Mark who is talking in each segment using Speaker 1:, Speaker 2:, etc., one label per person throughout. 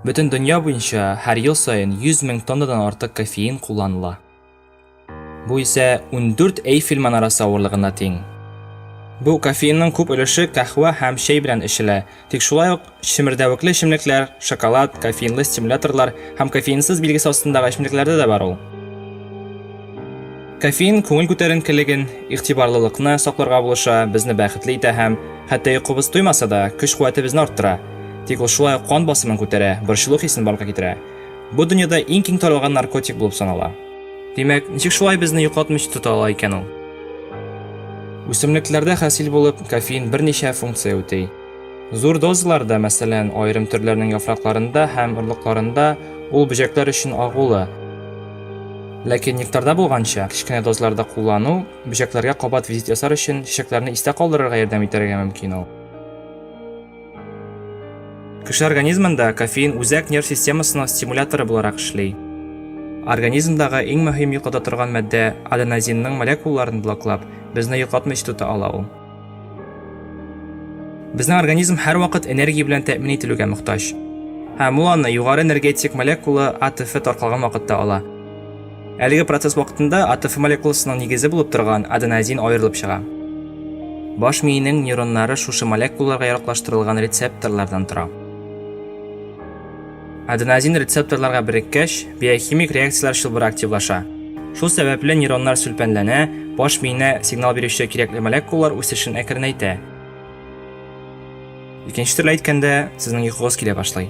Speaker 1: Бөтен дөнья буенча һәр ел саен 100 мең тоннадан артык кофеин кулланыла. Бу исә 14 Эйфель манарасы авырлыгына тиң. Бу кофеинның күп өлеше кахва һәм чәй белән эчелә, Тик шулай ук чемердәвекле эчемлекләр, шоколад, кофеинлы стимуляторлар һәм кофеинсыз билгесе астындагы эчемлекләрдә дә бар ул. Кофеин күңел күтәренкелеген, игътибарлылыкны сакларга булыша, безне бәхетле итә һәм, хәтта йокыбыз туймаса да, көч-куәтебезне арттыра. Тик ул шулай ук кан басымын күтәрә, борчылу хисен барлыкка китерә. Бу дөньяда иң киң таралган наркотик булып санала. Димәк, ничек шулай безне йоклатмыйча тота ала икән ул? Үсемлекләрдә хасил булып, кофеин берничә функция үти. Зур дозаларда, мәсәлән, аерым төрләрнең яфракларында һәм орлыкларында ул бөҗәкләр өчен агулы. Ләкин нектарда булганча, кечкенә дозаларда куллану бөҗәкләргә кабат визит ясар өчен чәчәкләрне истә калдырырга ярдәм итәргә мөмкин ул. Кеше организмында кофеин үзәк нерв системасының стимуляторы буларак эшли. Организмдагы иң мөһим йоклата торган матдә аденозинның молекулаларын блоклап, безне йоклатмыйча тота ала ул. Безнең организм һәрвакыт энергия белән тәэмин ителүгә мохтаҗ. Һәм ул аны югары энергетик молекула АТФ таркалган вакытта ала. Әлеге процесс вакытында АТФ молекуласының нигезе булып торган аденозин аерылып чыга. Баш миенең нейроннары шушы молекулаларга яраклаштырылган рецепторлардан тора. Аденозин рецепторларга береккәч, биохимик реакцияләр чылбыры активлаша. Шул сәбәпле нейроннар сүлпәнләнә, баш миенә сигнал бирүче кирәкле молекулалар үсешен әкренәйтә. Икенче төрле әйткәндә, сезнең йокыгыз килә башлый.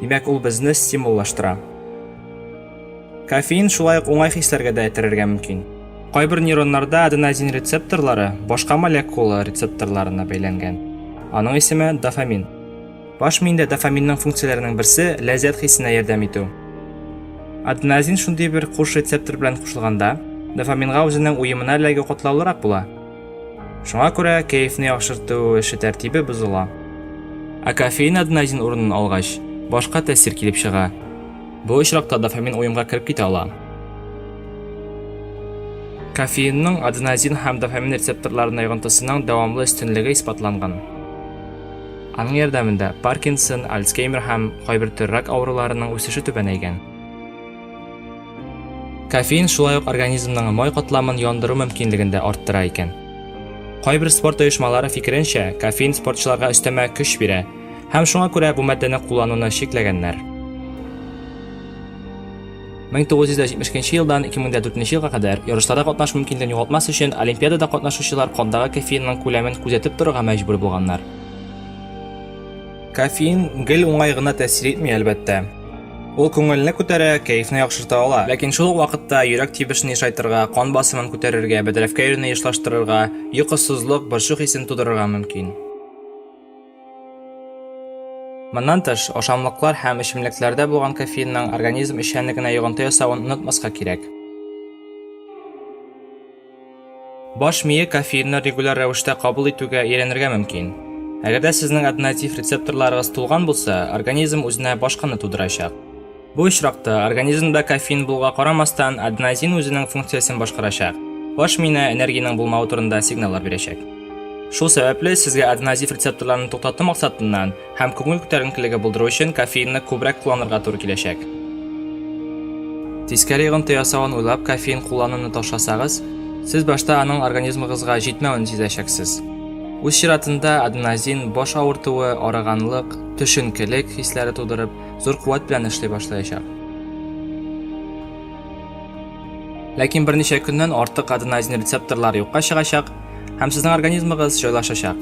Speaker 1: Димәк, ул безне стимуллаштыра. Кофеин шулай ук уңай хисләргә дә этәрергә мөмкин. Кайбер нейроннарда аденозин рецепторлары башка молекула рецепторларына бәйләнгән. Аның исеме дофамин. Баш миендә дофаминның функцияләренең берсе ләззәт хисенә ярдәм итү. Аденозин шундый бер куш рецептор белән кушылганда, дофаминга үзенең уемына эләгү катлаулырак була. Шуңа күрә кәефне яхшырту эше тәртибе бозыла. Ә кофеин аденозин урынын алгач, башка тәэсир килеп чыга. Бу очракта дофамин уемга кереп китә ала. Кофеинның аденозин һәм дофамин рецепторларына йогынтысының дәвамлы өстенлеге исбатланган. Аның ярдәмендә Паркинсон, Альцгеймер һәм кайбер төр рак авыруларының үсеше түбәнәйгән. Кофеин шулай ук организмның май катламын яндыру мөмкинлеген дә арттыра икән. Кайбер спорт оешмалары фикеренчә, кофеин спортчыларга өстәмә көч бирә, һәм шуңа күрә бу матдәне куллануны чикләгәннәр. 1972 елдан 2004 елга кадәр ярышларда катнашу мөмкинлеген югалтмас өчен олимпиадада катнашучылар кандагы кофеинның күләмен күзәтеп торырга мәҗбүр булганнар. Кофеин гел уңай гына тәэсир итми, әлбәттә. Ул күңелне күтәрә, кәефне яхшырта ала. Ләкин шул ук вакытта йөрәк тибешен ешайтырга, кан басымын күтәрергә, бәдрәфкә йөрүне ешлаштырырга, йокысызлык, борчу хисен тудырырга мөмкин. Моннан тыш, ашамлыклар һәм эчемлекләрдә булган кофеинның организм эшчәнлегенә йогынты ясавын онытмаска кирәк. Баш мие кофеинны регуляр рәвештә кабул итүгә өйрәнергә мөмкин. Әгәр дә сезнең однотив рецепторларыгыз тулган булса, организм үзенә башканы тудырачак. Бу очракта организмда кофеин булуга карамастан, аденозин үзенең функциясен башкарачак, баш миенә энергиянең булмавы турында сигналлар бирәчәк. Шул сәбәпле, сезгә аденозив рецепторларны туктату максатыннан, Һәм күңел күтәренкелеге булдыру өчен кофеинны күбрәк кулланырга туры киләчәк. Тискәре йогынты ясавын уйлап кофеин куллануны ташласагыз, сез башта аның организмыгызга җитмәвен сизәчәксез. Үз чиратында аденозин баш авыртуы, арыганлык, төшенкелек хисләре тудырып, зур куәт белән эшли башлаячак. Ләкин берничә көннән артык аденозин рецепторлары юкка чыгачак һәм сезнең организмыгыз җайлашачак.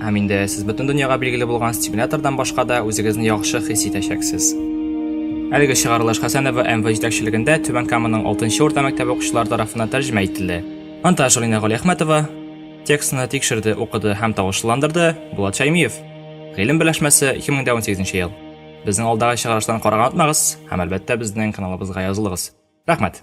Speaker 1: Һәм инде сез бөтен дөньяга билгеле булган стимулятордан башка да үзегезне яхшы хис итәчәксез. Әлеге чыгарылыш Хәсәнова МВ җитәкчелегендә Түбән Каманың 6 урта мәктәбе укучылары тарафыннан тәрҗемә ителде. Монтаж Алина Галиәхмәтова, текстны тикшерде, укыды һәм тавышлыландырды Булат Шәймиев. Гыйлем берләшмәсе, 2018 ел. Безнең алдагы чыгарыштан карарга онытмагыз һәм әлбәттә безнең каналыбызга язылыгыз. Рәхмәт!